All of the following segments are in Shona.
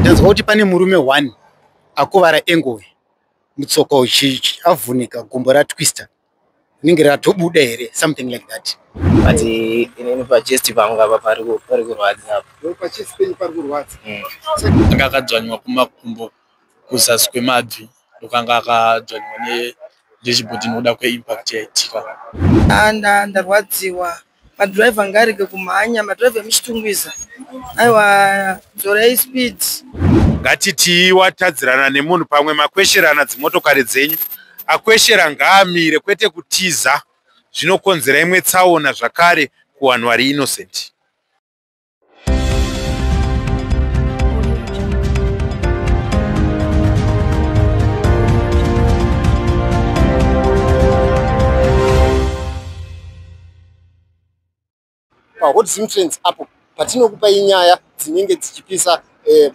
Ndanzwa kuti pane murume one akuvara engove mutsoka uchichi avhunika gumbo ratwister rinenge ratobuda here something like that but eh, inini pachest pangu apa pari kurwadza hmm. anga akadzvanywa kumakumbo kuzasi kwemabvi ndokanga akadzvanywa nechibhoti nokuda kweimpact yaitika ah, ndarwadziwa madriver ngarege kumhanya madriver emuchitungwiza aiwa dzorei speed ngatitii watadzirana nemunhu pamwe makwesherana dzimotokari dzenyu akweshera ngaamire kwete kutiza zvinokonzera imwe tsaona zvakare kuwanhu vari innocent pahot zimtrance apo patinokupai nyaya dzinenge dzichipisa eh,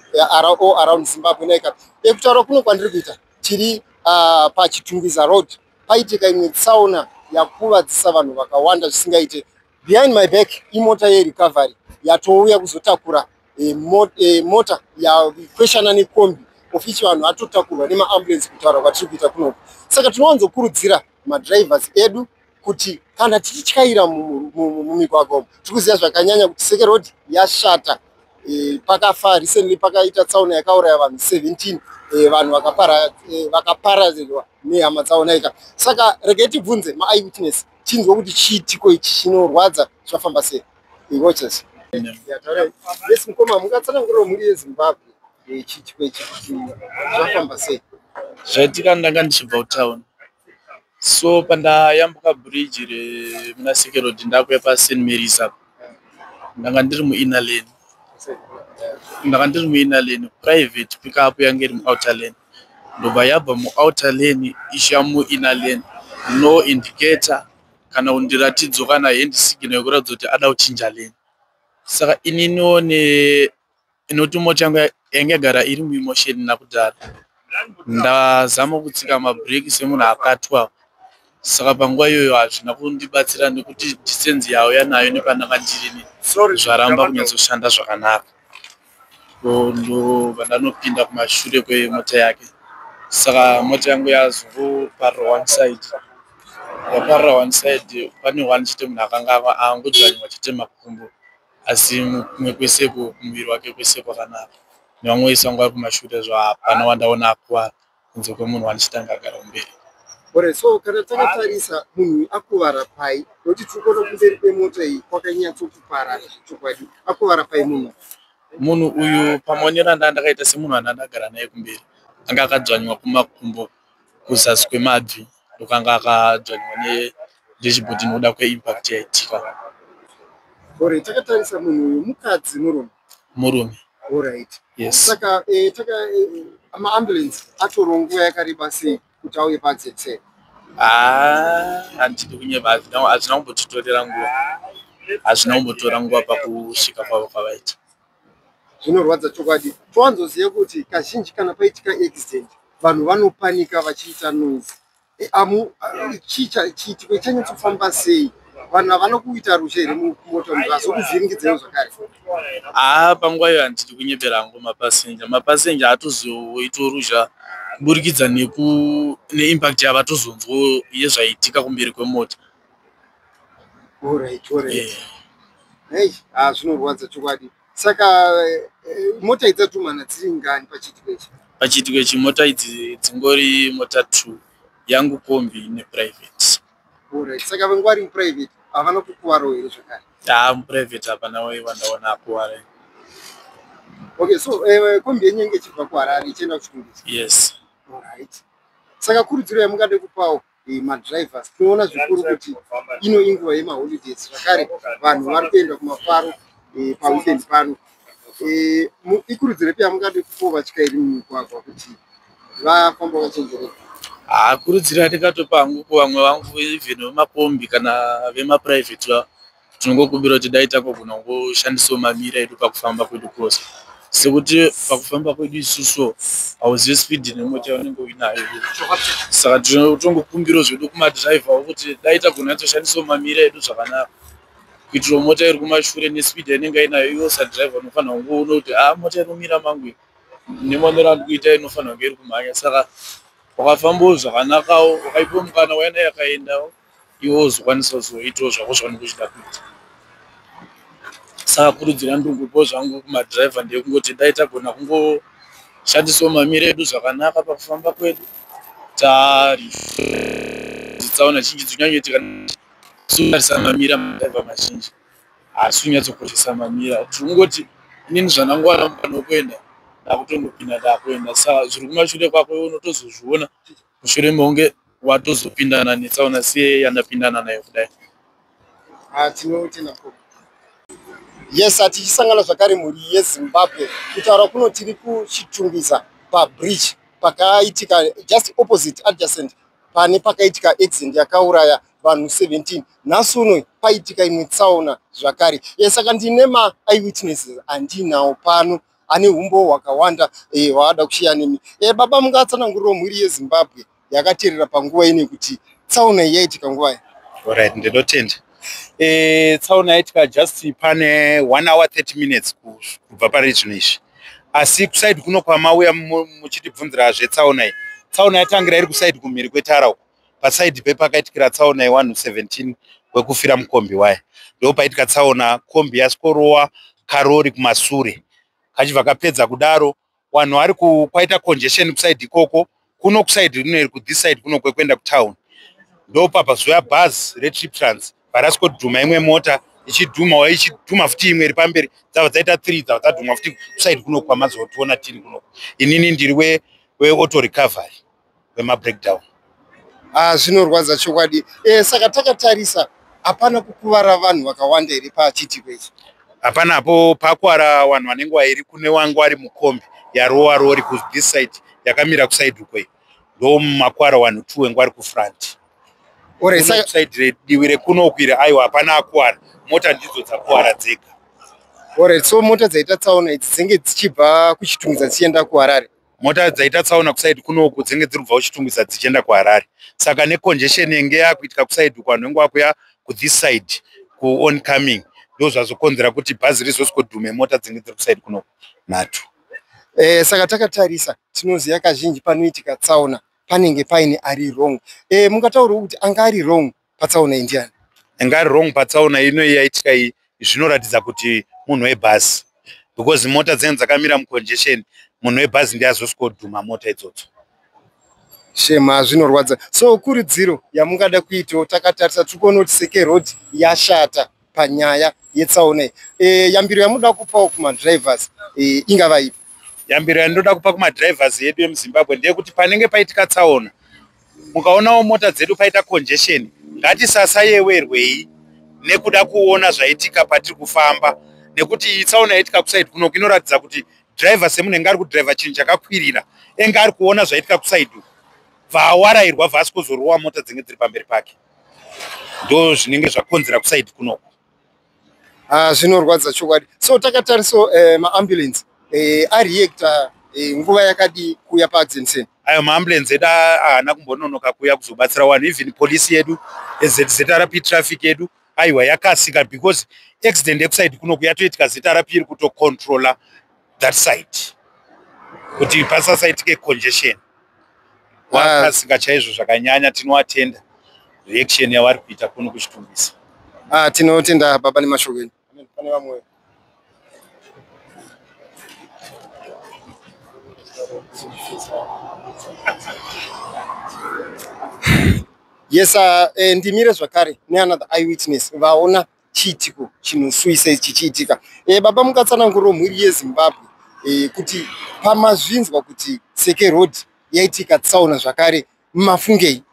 o around zimbabwe naika ekutaura kuno kwandiri kuita tiri ah, pachitungwiza road paitika imwe tsaona yakuvadzisa vanhu vakawanda zvisingaite behind my back imota yerecovery yatouya kuzotakura e, mo, e, mota yakweshana nekombi of ichi vanhu vatotakurwa nemaambulensi kutaura kwatiri kuita kunoku saka tinowanzokurudzira madrivers edu kuti kana tichityaira mumigwagwa umu tiri kuziva zvakanyanya kuti seke road yashata e, pakafa recently pakaita tsaona yakauraya vanhu 17 e, vanhu vakaparadzirwa e, nehama tsaonaika saka regai tibvunze maeyewitness tinzwa kuti chiitiko ichi chinorwadza zvafamba sei watches yes mukoma mungatsanangurira mhuri yezimbabwe eh, chiitiko ichi kuti zvafamba sei zvaitika ndanga ndichibva kutown so pandayambuka bridge remuna sekerodi ndakuya pasin maris apo ndanga ndiri muinner lane ndanga ndiri muinner lane private pikapu yange iri muouter lane ndobva yabva muouter lane ichiya muinner lane no indicator kana kundiratidzo kana hand signal yekuratidza kuti ada kuchinja lane saka ininiwo ne inoti moto yangu yange yagara iri muimotion nakudhara ndazama kutsika mabreak semunhu akatwa saka panguva iyoyo hazvina kundibatsira nekuti distance yauya nayo nepanaka ndirini zvaramba kunyatsoshanda zvakanaka ndobva ndanopinda kumashure kwemota yake saka mota yangu yazoparira one side yaparira one side pane one chete munhu akanga angodzvanywa chete makumbo asi kumwe kwese kumuviri wake kwese kwakanaka nevamwe vese vanga vari kumashure zvaapana wandaona akuwara kunze kwemunhu wandicitanga agara kumberi ore so kana takatarisa munhu akuvara pai nokuti tiri kuona kumberi kwemota iyi kwakanyatsokupara chokwadi akuvara pai munhu munhu uyu pamaonero andaa ndakaita semunhu andaa ndagara naye kumberi anga akadzvanywa kumakumbo kuzasi kwemabvi ndokanga akadzvanywa ne dashboard inoda kweimpact yaitika ore takatarisa munhu uyu mukadzi murume murume Alright. yes Saka eh, taka eh, maambulance atorwa nguva yakareba sei kuti auye padzetse. Ah, handidi kunyeba hazvina hazvina kumbotitorera nguva hazvina kumbotora nguva pakusvika kwavo kwavaita Zvinorwadza chokwadi. Towanzoziva kuti kazhinji kana paitika accident vanhu vanopanika vachiita noise. Eh, amu chiitiko chanyatsofamba sei vanhu havana kuita rushe here mumoto vazokuvhiringidzeo zvakare haa panguva iyo handidi kunyepera hangu mapasenja mapasenja atozoita ruzha kuburikidza neimpact yavatozonzwa yezvaitika kumberi kwemota orit orit hey, ah, zvinorwadza chokwadi saka eh, mota idzi dzatumana dziri ngani pachiitiko ichi pachiitiko ichi mota idzi dzingori mota two yangu kombi neprivate orit saka vengu vari muprivate havana kukuvaro here zvakare haa ah, muprivate hapana wai vandaona akuvara okay so eh, kombi yenyu yenge ichibva kuharare ichienda kuchitungisi yes orit saka kurudziro yamungade kupawo eh, madrivers tinoona zvikuru kuti ino inguva yemaholidays zvakare vanhu vari kuenda kumafaro eh, paweekend pano eh, ikurudziro ipi yamungade kupo vatyairi mumigwagwa kuti vafamba vachenjereka hakurudziro ah, yandingatopa hangu kuvamwe vangu even vemakombi kana vemaprivate vavo tinongokumbira kuti dai takogona kungoshandisawo mamira edu pakufamba kwedu kose sekuti pakufamba kwedu isusu hauzive spidi nemota yaunenge uinayo saka tinotongokumbirawo zvedu kumadhiraivhawo kuti dai tagona atoshandisawo mamira edu zvakanaka kuitirawo mota iri kumashure nespidi yainenge ainayo iwo sadhiraivha unofanira kunge uno kuti haa ah, mota inomira mangu nemanero andi kuita inofanira kunge iri kumhanya saka wakafambawo zvakanakawo wakaipiwa mukana waina yakaendawo iwo uzokwanisa kuzoitawo zvako zvaunenge uchida kuita saka kurudzira ndikupo zvangu kumadhiraivha ndekungoti dai tagona kungoshandisawo mamiro edu zvakanaka pakufamba kwedu taritsaona zhinji dzinyanyoitika suarisa mamira madhiraivha mazhinji haasi kunyatsokoshesa mamira tiri kungoti inini zvandangowana mukana wekuenda ndakutongopinda ndakuenda saka zviri kumashure kwako unotozozviona mushure mekunge watozopindana netsaona siye yandapindana nayo kudai ah, tinotenda ko yes hatichisangana zvakare mhuri yezimbabwe kutaura kuno tiri kuchitungwiza pabridge pakaitika just opposite adjacent pane pakaitika accident yakauraya vanhu 17 nhasi uno paitika imwe tsaona zvakare e saka ndine maeyewitnesses andinawo pano ane humbo hwakawanda eh, hwaada kushiya nemi e, baba mungatsananguriro mhuri yezimbabwe yakaterera panguva ine kuti tsaona yaitika nguva ye orit ndinotenda e, tsaona yaitika just pane one hour 30 minutes kubva pari zvino izvi asi kusaidi kuno kwamauya muchitibvunzira zvetsaona iyi tsaona yatangira iri kusaidi kumhiri kwetara uko paside pepakaitikira tsaona yewanhu 17 wekufira mukombi waye ndo paitika tsaona kombi yasikorova karori kumasure kachibva kapedza kudaro wanhu ari kwaita congestion kuside ikoko kuno kuside rino iri kuthis side kuno kwekuenda kutown ndo papa zuya bhaz retrip trans varasikodhuma imwe mota ichidhuma wa ichidhuma futi imwe iri pamberi dzava dzaita three dzava dzadhuma futi kuside kuno kwamazotiona tiri kuno inini ndiri weauto recovery kwemabreakdown ah, zvinorwadza chokwadi e, saka takatarisa hapana kukuvara vanhu vakawanda here pachiitiko ichi hapana apo pakwara vanhu vanenge vairi kune wangu ari mukombi yarowa rori kuthis side yakamira kusaidi uko iyi ndo makwara wanhu two wengu ari kufront saidi diwi rekuno uku iri aiwa hapana akwara mota ndidzo dzakwara dzega oret so mota dzaita tsaona idzi dzenge dzichibva kuchitunza dzichienda kuharare mota dzaita tsaona kusaidi kunoku dzenge dziri kubva kuchitungwiza dzichienda kuharare saka necongestion yenge yakuitika kusaidi uku vanhu venge vakuya kuthis side kuon coming ndo zvazokonzera kuti bhazi rizosikodhume mota dzenge dziri kusaidi kunoku nhatu eh, saka takatarisa tinoziva kazhinji panoitika tsaona panenge paine ari wrong eh, mungataurawo kuti anga ari wrong patsaona iyi ndiani ingari wrong patsaona ino yaitika iyi zvinoratidza kuti munhu webhazi because mota dzine dzakamira mucongestion munhu webhazi ndiye azoswodhuma mota idzodzo shema zvinorwadza so kuridziro yamungada kuitawo takatarisa tiri kuona kuti seke road yashata panyaya yetsaona iyi e, yambiro yamunoda kupawo kumadrivers e, ingava ipi yambiro yandinoda kupa kumadrivers edu emuzimbabwe ndeyekuti panenge paitika tsaona mukaonawo mota dzedu paita congestion ngatisasayewerwei nekuda kuona zvaitika patiri kufamba nekuti iyi tsaona yaitika kusaidi kuno inoratidza kuti driver semunhu enge ari kudriver chinhu chakakwirira enge ari kuona zvaitika kusaidi bva awarairwa vhasi kuzorowa mota dzinge dziri pamberi pake ndo zvinenge zvakonzera kusaidi kunoko ah, zvinorwadza chokwadi so takatariso eh, maambulensi eh, areacta eh, nguva yakadii kuuya paadzensen ayo maambulensi edu ahana kumbononoka kuuya kuzobatsira wanhu even polisi yedu ezrp eh, traffic yedu aiwa yakasika because accident ekusaidi kunoku yatoitika zrp iri kutocontrola that side kuti pasasaitike congestion wakasika chaizvo zvakanyanya tinoatenda reaction yavari kuita kuno kuchitumbisa ah, tinotenda baba nemashoko enyu pane vamwe yes uh, eh, ndimire zvakare neanother eyewitness vaona chiitiko chinosuwisa ichi chichiitika e, baba mukatsananguriro mhuri yezimbabwe e, kuti pamazvinzwa kuti seke road yaitika tsaona zvakare mafungei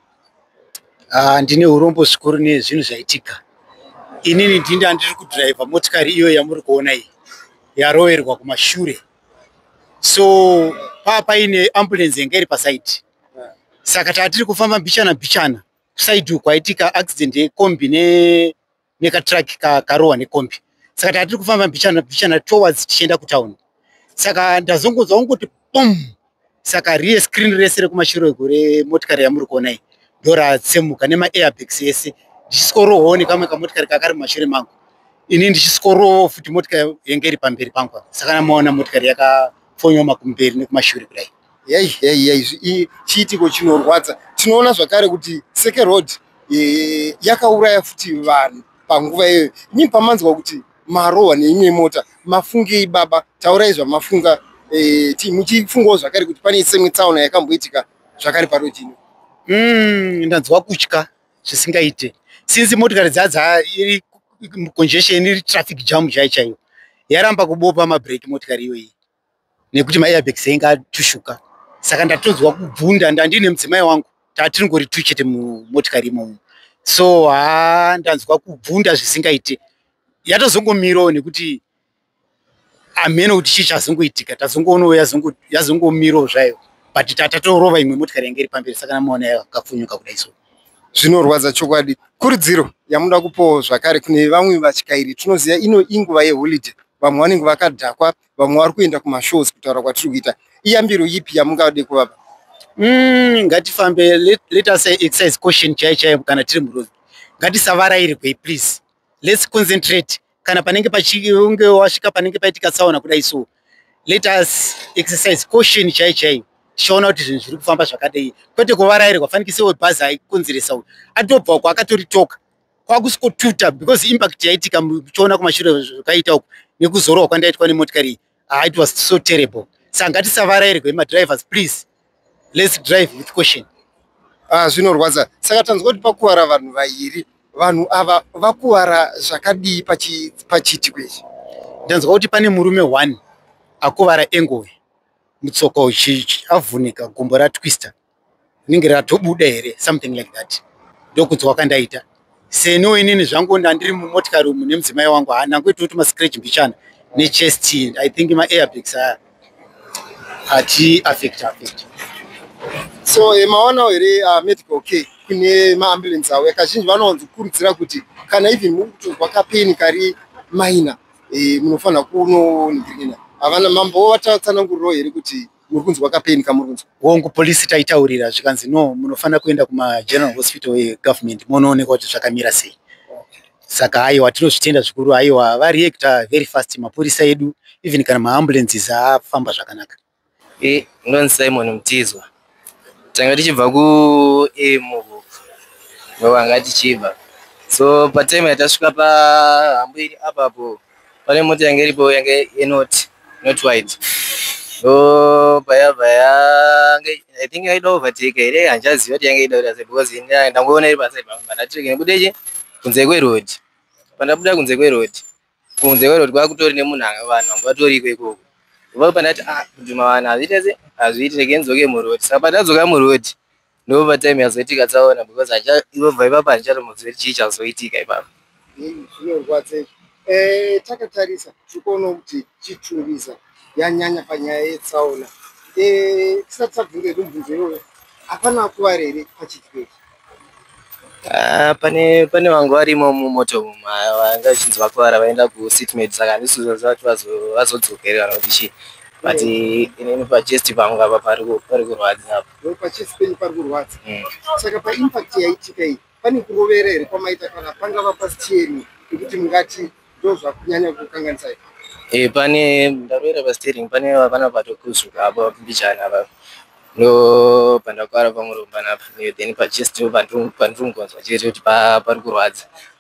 ah, ndine urombo zvikuru nezvinhu zvaitika inini ndini andiri kudhiraivha motikari iyo yamuri kuona iyi yaroverwa kumashure so paa paine ambulensi yanga iri pasaidi saka tatiri kufamba mbichana mbichana kuside uku kwaitika accident yekombi nekatruck karohwa nekombi saka taa tiri kufamba mbichana mbichana towards tichienda kutown saka ndazongonzwa kungoti pom saka riye screen rese rekumashiro ego remotikari yamuri kuona iyi ndoratsemuka nemaairbags ese ndichisworohoo nekamwe kamotikari kakari mumashure mangu ini ndichisworohoo futi motikari yenge iri pamberi pangu saka namaona motikari yakafonyooma kumberi nekumashure kudai Yei yei yei chiitiko chinorwadza. Tinoona zvakare kuti Seke Road e, yakauraya futi vanhu panguva iyoyo. Nyii pamanzwa kuti marohwa neimwe mota mafungei baba? Taurai zvamafunga e, muchifungawo zvakare kuti pane semwe tsaona yakamboitika zvakare paroad ino. Mm, ndanzwa kutya zvisingaite since motikari dzadza iri congestion iri traffic jam chai chaiyo yaramba kubopa mabreak motikari iyoyi nekuti maairbeks ainge atushuka saka ndatonzwa kubvunda ndandine mudzimai wangu tatiringori tu chete mumotikari imomo so haa ndanzwa kubvunda zvisingaite yatozongomiroo nekuti amheno kuti chii chazongoitika tazongoonoo yazongomiroo zvayo but tatatorova imwe motikari yange iri pamberi saka namaona yakafunyuka kudai so zvinorwadza chokwadi kurudziro yamuda kupowo zvakare kune vamwe vatyairi tinoziva ino inguva yeholiday vamwe vanenge vakadhakwa vamwe vari kuenda kumashows kutaura kwatiri kuita iyambiro yipi yamungade kuvapa mm, ngatifambe let, let us exercise caution chaiyo chaiyo kana tiri muroad ngatisavarairwe please let's concentrate kana panenge pachinge wasvika panenge paitika tsaona kudai so let us exercise caution chaiyo chaiyo tichaona kuti zvinhu zviri kufamba zvakadei kwete kuvarairwa fanikise webhazi aikonzeresa uyu atobva uko akatoritoka kwakusikotuta because impact yaitika muchiona kumashure zvakaita uku nekuzorwa kwandaitwa nemotikari ah, it was so terrible saka ngatisavarairwe madrivers please let's drive with caution ah, zvinorwadza saka tanzwa kuti pakuvara vanhu vairi vanhu ava vakuvara zvakadii pachiitiko ichi ndanzwa kuti pane murume one akuvara engoe mutsoko avhunika gumbo ratwister rinenge ratobuda here something like that ndokunzwa kandaita seniwo inini zvangu ndandiri mumotikari umu nemudzimai wangu ha ndangoitawo kuti mascratch mbichana nechest i think maairbags aya ati affect affect so eh, maonawo here ah, medical care kune maambulance awo yakazhinji vanowanzo kurudzira kuti kana even mukutonzwa kapeni kari minor eh, munofanira kunoningirina havana mambo vatsananguriro here kuti muri kunzwa kapeni kamuri kunzwa hongu polisi taitaurira zvikanzi no munofanira kuenda kumageneral hospital egovernment monoonekwa kuti zvakamira sei saka aiwa tinozvitenda zvikuru aiwa vareacta very fast mapurisa edu even kana maambulances afamba zvakanaka e ndonzi simon mutizwa tanga tichibva kuemuvo vanga tichibva so patime yatasvika pahambo iri apapo pane mota yange iripo yange yenoti not white so payabva yange i think yaida overtake here handichaziva kuti yange ida kuti because ndangoona iri paside pangu pandatireke nekuda ichi kunze kweroad pandabuda kunze kweroad kunze kweroad kwakutori nemunhu vanhu vangu vatoriko ikoko vava pandati ah kudhuma vanhu hazviite se hazviite rekenzoke muroad saka pandadzoka muroad ndova time yazoitika tsaona because ivobva ivapa handichatomuzivi chii chazoitika ipapa zvinorwadza izvi eh, takatarisa tikuona kuti chitungwiza yanyanya panyaya yetsaona eh, tisati tabvunza hedu mubvunzo iyoyo hapana akuvari here pachitikechi ah, pane pane vangu varimo mumoto umu ah, vanga vachinzi vakuvara vaenda kusitmed saka handisi zvaziva kuti vazodzokerera kuti chii but inini pachest pangu apa pari kurwadza apa Ndokuti pachisi penyu pari kurwadza. Mm. Saka paimpact yaitika iyi pane kurovera here kwamaita kana pangava pasteering yekuti mungati ndozvakunyanya kukanganisa ipa? Eh, pane ndarovera pasteering pane vana vatokuzuka apo mbichani apa ndo pandakuvara pamurombana apa then pachisi pandiri kungonzwa chete kuti pari kurwadza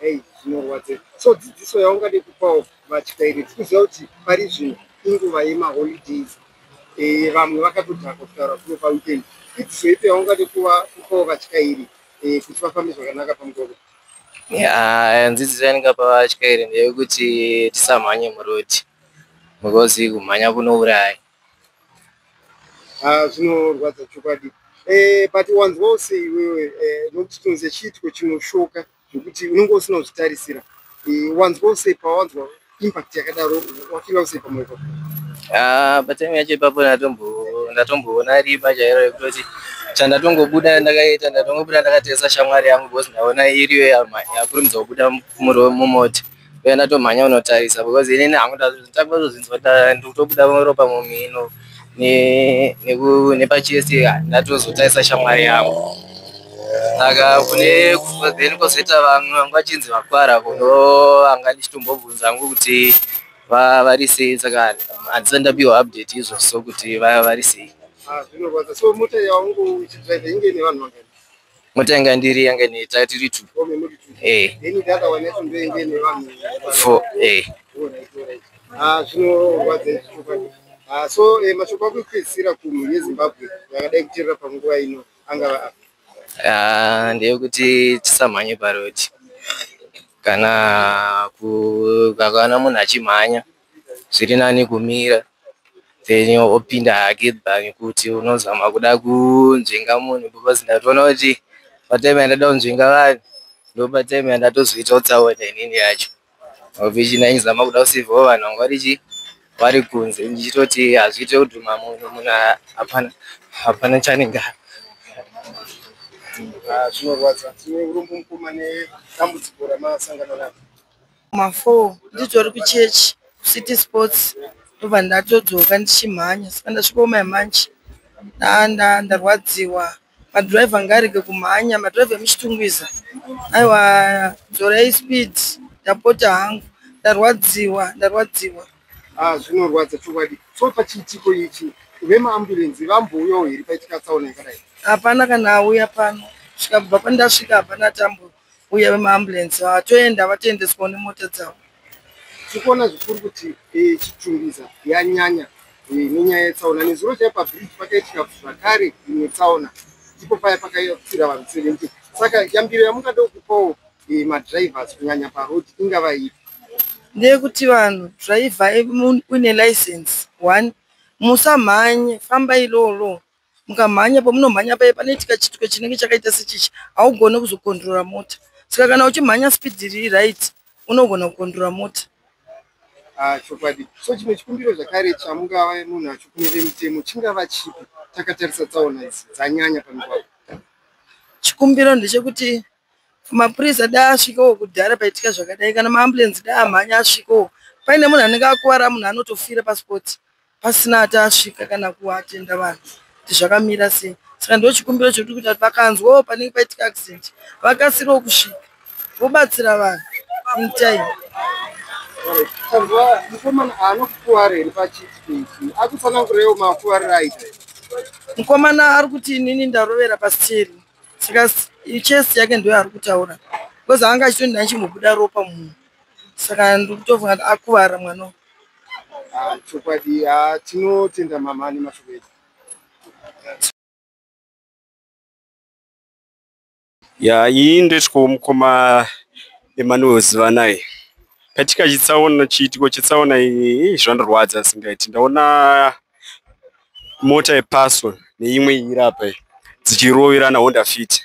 Hey, zvinorwadze so dzidziso yaungade kupawo vatyairi tikuziva kuti pari zvino inguva yemaholidays eh, vamwe e, vakatodhaka kutaura kuno paweekend idziso ipi yaungade kupawo vatyairi e, kuti vafambe zvakanaka pamugwagwa ya nzidziso yandingapa vatyairi ndeyekuti tisamhanye murodi because kumhanya kunouraya ah, zvinorwadza chokwadi e, but wanzwawo seiwewe e, nokuti tonze chiitiko chinoshoka zvekuti unenge usina kuzvitarisira eh, wanzwa usei pawanzwa impact yakadaro wafila usei pamoyo pako ah, patime yacho ipapo ndatomboona riba chairo rekutoti chandatongobuda ndakaita ndatongobuda ndakatesa shamwari yangu bcause ndaona iriyo yakurumidza kubuda mumota uye ndatomhanya unotarisa because ini ndakuzvinzwa ndikutobuda ropa mumhino nepachest ndatozotarisa shamwari yangu saka kune then kozoita vamwe vangu vachinzi vakwara kuno vanga ndichitombobvunza hangu kuti vari sei saka handisa ndapiwa update izvo so kuti vari sei ah, zvinorwadza so mota yaungu uchidrive inge nevanhu vangani mota yanga ndiri yanga ine taya tiri two eh. four eh. ah, ah, so eh, mashoko akupedzisira kumhuri yezimbabwe yakadai kuterera panguva ino angava apa ah, ndeyekuti tisamhanye parodi kana kana munhu achimhanya zviri nani kumira then opinda hake bhangi kuti unozama kuda kunzvenga munhu because ndatoona kuti patime yandada kunzvenga vanhu ndopatime yandatozoitawo tsaona inini yacho ovichi ndaizama kuda kusivawo vanhu vanga vari chii vari kunze ndichitoti hazviite kudhuma munhu munhu hapana hapana chanenge ah, zvinorwadza tine urombo mukoma nedambudziko ramasangana naro mafour nditori kuchechi kucity sports ndobva ndatodzoka ndichimhanya saka ndasvikooma yamanje ndanda ndarwadziwa madrive anga arege kumhanya madrive emuchitungwiza aiwa dzorei speed ndapota hangu ndarwadziwa ndarwadziwa ah, zvinorwadza chokwadi so pachiitiko ichi vemaambulensi vambouyawo here paitika tsaona yakadai hapana kana auya pano svika kubva pandasvika hapana tambura uye vemaambulensi vatoenda vatoendeswawo nemota dzavo tikuona zvikuru kuti eh, chitungiza yanyanya eh, nenyaya yetsaona nezuro chai pabridge pakaitika zvakare imwe tsaona ndipo paya pakafira vanhu 70 saka yambiro yamungada kupawo eh, madrivers kunyanya parod ingava ipi ndeyekuti vanhu driver uine license one musamhanye fambai loo loo mukamhanya pamunomhanya paye panoitika chitwe chinenge chakaita sechichi haugone kuzokondrora mota saka kana uchimhanya speed riri right unogona kukondrora mota ah, chokwadi so chimwe chikumbiro zvakare chamungava munhu achikumire mitemo chingava chipi takatarisa tsaona idzi dzanyanya pamigwagwa chikumbiro ndechekuti mapurisa da asvikewo kudhara paitika zvakadai kana maambulensi da amhanya asvikewo paine munhu anenge akuvara munhu anotofira paspoti pasina ati asvika kana kuatenda vanhu kuti zvakamira sei saka ndo chikumbiro chekuti kuti vakanzwawo oh, panenge paitika accident vakasirewo kusvika vobatsira vanhu in time tanzwa mukomana anokukuwara here pachitiki akutsanangurewo makuwarira aita mukomana ari kuti inini ndarovera pasiteri saka chest yake ndoyo ari kutaura because anga achitoni ndaichimbobuda ropa munhu saka ndikutofunga kuti akuvara mwana ah, chokwadi ah, tinotenda mama ane mashoko edu ya iyi ndetwo mukoma emanuel zivanai katika chitsaona chiitiko chitsaona iyi zvandirwadza asingaiti ndaona mota yepaso neimwe irapa dzichiroverana honda fiti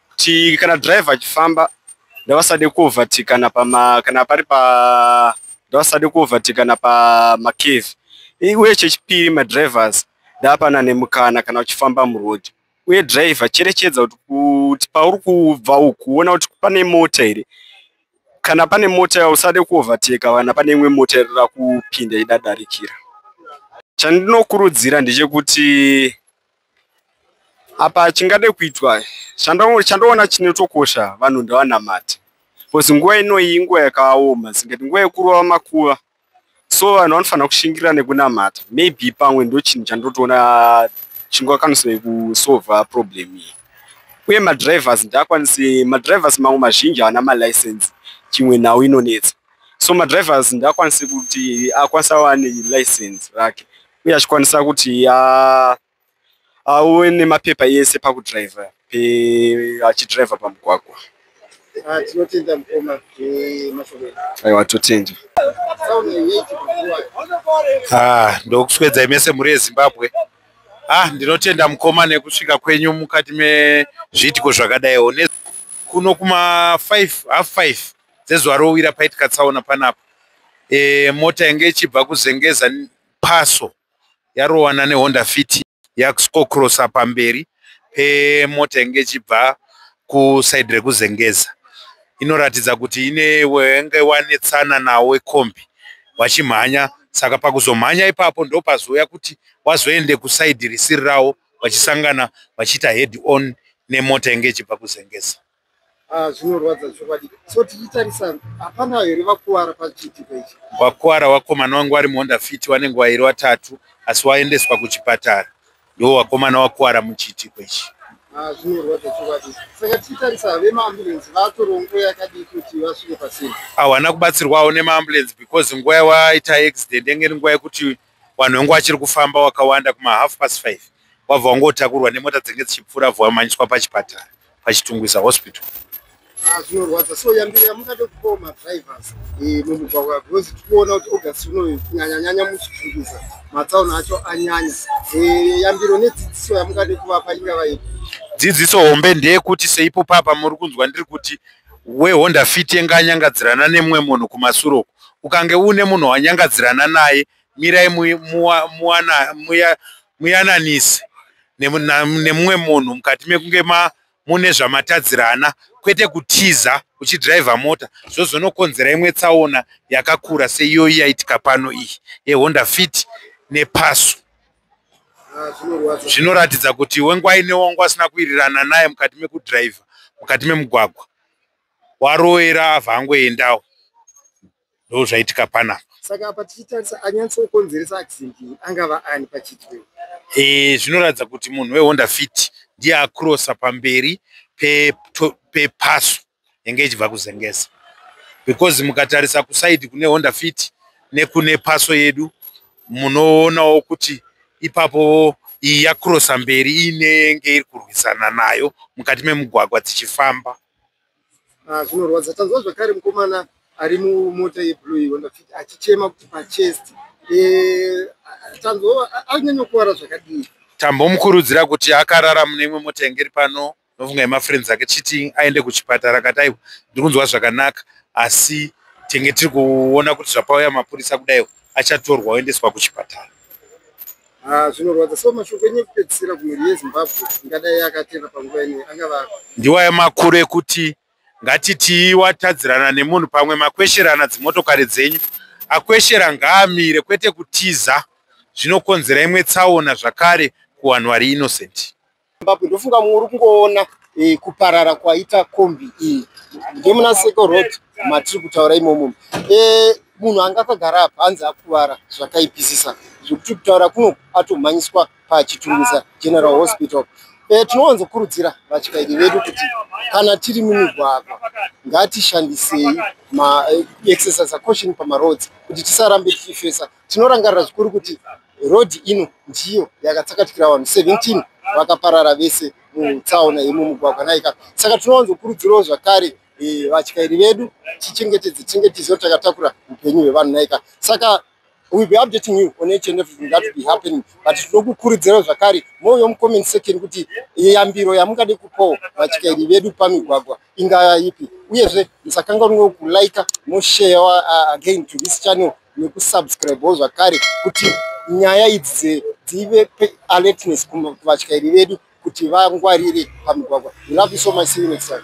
kuti kana driver achifamba ndavasade kuovertakana pama kana pari pa ndavasade kuovertakana pamacave uye chechipiri madrivers ndapana nemukana kana uchifamba muroad uye driver cherechedza kuti kuti pauri kubva ukuona kuti pane mota here kana pane mota usade kuoverteka kana pane imwe mota iri rakupinda idadarikira chandinokurudzira ndechekuti apa chingade kuitwa chandoona chinotokosha vanhu ndavanamati bcause nguva inoyi inguva yakaoma singati nguva yekurova makuva so vanhu vanofanira kushingira nekunamata maybe pamwe ndochinhu chandotoona chingakwanisei kusova problem iyi uye madrivers ndakwanise madrivers mamwe mazhinji haana malicense chimwe nhau inonetsa so madrivers ndakwanise kuti akwanisa wane license rake uye achikwanisa kuti auwe nemapepa yese pakudriver achidriver pamugwagwa ah, tinotenda mukoma aiwa totenda ah, ndokuswedzai mese mhuri yezimbabwe ah ndinotenda mukoma nekusvika kwenyu mukati mezviitiko zvakadaiwo kuno kuma 5 half 5 dzezuva rowira paitika tsaona panapa e, mota yange ichibva kuzengeza paso yarowana nehonda fit yakuskokrosa pamberi pemota inge ichibva kusaidi rekuzengeza inoratidza kuti ine wenge wanetsana nawo wekombi wachimhanya saka pakuzomhanya ipapo ndopazouya kuti wazoende kusaidi risiri rawo vachisangana vachiita head on nemota inge ichibva kuzengeza Ah, zvinorwadza chokwadi so tichitarisa hapana here vakuwara pachiitiko ichi wakuwara wakomana wangu vari muhonda fiti wanenge wairi watatu asi waendeswa kuchipatara ndiwo wakomana wakuwara muchiitiko ichi ah, zvinorwadza chokwadi saka tichitarisa vemaambulensi vatorwa nguva yakadii kuti vasvike pasina hawana kubatsirwawo nemaambulensi because nguva yawaita accident yenge iri nguva yekuti vanhu vangu vachiri kufamba wakawanda kuma half past five wabva wangotakurwa nemota dzenge dzichipfuura vabva vamanyiswa pachipatara pachitungwiza hospital ah, zvinorwadza so yambiri yamungade kupawo madrivers eh, mumugwagwa because tikuona kuti august unoyu kunyanyanyanya muchitungwiza matsaona acho anyanya eh, yambiro nedzidziso yamungade kuvapa ingava ipi dzidziso hombe ndeyekuti seipo papa muri kunzwa ndiri kuti e, wehonda fit yenge anyangadzirana nemumwe munhu kumasure uku ukange uine munhu wanyangadzirana naye mirai muyananise nemumwe munhu mukati mekunge mune zvamatadzirana kwete kutiza uchidhiraivha mota zvozonokonzera imwe tsaona yakakura seiyoyi yaitika pano iyi yehonda fit nepasu zvinoratidza kuti wengwai newanga asina kuirirana naye mukati mekudriver mukati memugwagwa waroera avha angoendawo ndo zvaitika panapa saka apa tichitarisa anyatsokonzeresa accident iyi angava ani pachitwe e, zvinoratidza kuti munhu wehonda fit ndiye acrossa pamberi pepaso pe yenge ichibva kuzengesa because mukatarisa kusaidi kune honda fit nekune paso yedu munoonawo kuti ipapo iyi yakrosa mberi inenge iri kurwisana nayo mukati memugwagwa dzichifamba ah, zvinorwadza tanzwa zvakare mukomana ari mumota yeblue yehonda fit achichema kuti pachest eh, tanzwa anyanyokuvara zvakadii tambomukurudzira kuti akarara mune imwe mota yange iri pano Ndofunga ema friends ake cheating aende kuchipatara kati aiwa ndiri kunzwa zvakanaka asi tenge tiri kuona kuti zvapauya mapurisa kudaiwo achatorwa oendeswa kuchipatara. Ah, zvinorwadza so mashoko enyu ekupedzisira kumhuri yezimbabwe ingadai akatera panguva ine angava ndiwaya makuru ekuti ngatitii watadzirana nemunhu pamwe makwesherana dzimotokari dzenyu akweshera ngaamire kwete kutiza zvinokonzera imwe tsaona zvakare kuwanhu vari innocent Zimbabwe ndofunga mumwe uri kungoona eh, kuparara kwaita kombi iyi ndemuna seko road matiri kutaura imomo eh, munhu anga akagara apa hanzi akuvara zvakaipisisa zvekuti kutaura kuno atomhanyiswa pachitungisa general hospital eh, tinowanzokurudzira vatyairi vedu kuti kana tiri mumigwagwa ngatishandisei maexercise eh, acaution pamaroads kuti tisarambe tichifesa tinorangarira zvikuru kuti Road ino ndiyo yakatsakatikira vanhu 17 vakaparara vese mutsaona yemumugwagwa naika saka tinowanzokurudzirawo zvakare e, vatyairi vedu tichengetedze tinge tiziva kuti takatakura upenyu hwevanhu naika saka will be updating you on each and everything that will be happening but tinokukurudzirawo zvakare mouyo mucomment section kuti yambiro yamungade kupawo vatyairi vedu pamigwagwa ingava ipi uyezve musakanganwewo kulika moshare uh, again to this channel nekusubscribewo zvakare kuti nyaya idzi dzive alertness kuvatyairi vedu kuti vangwarire pamigwagwa. We love you so much, see you next time.